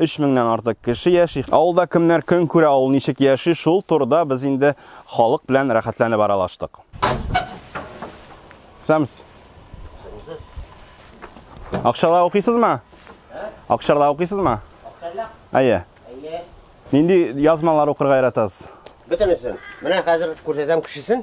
Өч меңнән артык кеше яши. Авылда кемнәр көн күрә, авыл ничек яши, шул турыда без инде халык белән рәхәтләнеп аралаштык. Сәмс. Акчарда укыйсызмы? Акчарда укыйсызмы? Акчарда? Әйе. Әйе. Нинди язмалар укырга яратасыз? Бөтенесен. Менә хәзер күрсәтәм кешесен.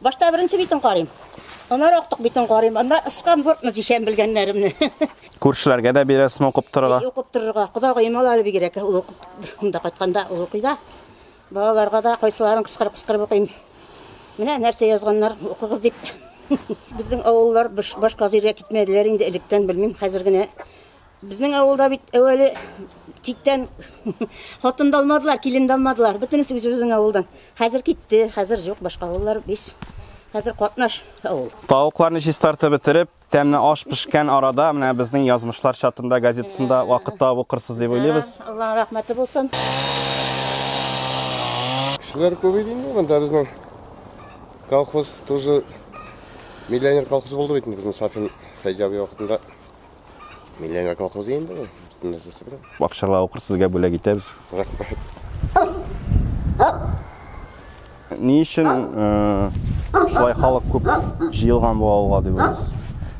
Башта беренче битен карыйм. Аннары актык битен карыйм. Анда ыскан бортны дишәм белгәннәремне. Күршеләргә дә бирәсме укып торырга? Э, укып торырга. Кодагыем ала әле бигрәк. Ул укып, монда кайтканда ул укый да. Балаларга да кайсыларын кыскырып кыскырып укыйм. Менә нәрсә язганнар, укыгыз дип. Безнең авыллар башка җиргә китмәделәр инде электән, белмим, хәзер генә Безнең авылда бит әүвәле читтән хатын да алмадылар, килен дә алмадылар. Бөтенесе үзебезнең авылдан. Хәзер китте, хәзер юк, башка авыллар биш. Хәзер катнаш авыл. Тавыкларны чистартып бетереп, тәмле аш пешкән арада менә безнең язмышлар чатында газетасында вакыт табып укырсыз дип уйлыйбыз. Аллаһның рәхмәте булсын. Кешеләр күбәйде инде монда безнең колхоз тоже миллионер колхоз булды бит безнең Сафин Фәйзәби вакытында. Миллионер колхозы инде ул. Бөтен нәрсәсе белән. Акчала укыр сезгә бүләк итәбез. Рәхмәт. Ни өчен э, шулай халык күп җыелган бу авылга дип уйлыйсыз?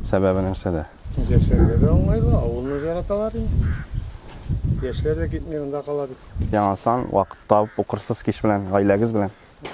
Сәбәбе нәрсәдә? Яшьләргә дә уңайлы, авылны яраталар инде. Яшьләр дә китми, монда кала бит. Яңа сан, вакыт табып укырсыз кич белән, гаиләгез белән.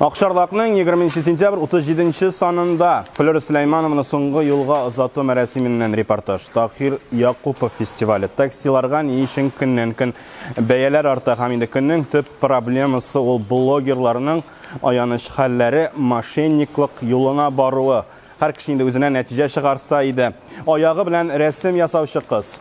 Акчарлакның 20 нче сентябрь 37 нче санында Флера Сөләйманованы соңгы юлга озату мәрәсименнән репортаж. Таһир Якупов фестивале. Таксиларга ни өчен көннән-көн бәяләр арта һәм инде көннең төп проблемасы ул блогерларның аяныч хәлләре, мошенниклык юлына баруы. Һәр кеше инде үзенә нәтиҗә чыгарса иде. Аягы белән рәсем ясаучы кыз.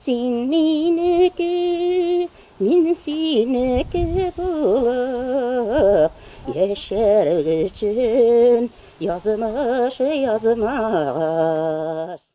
Син минеке, мин синеке булып Яшәр өчен язмыш язмагач.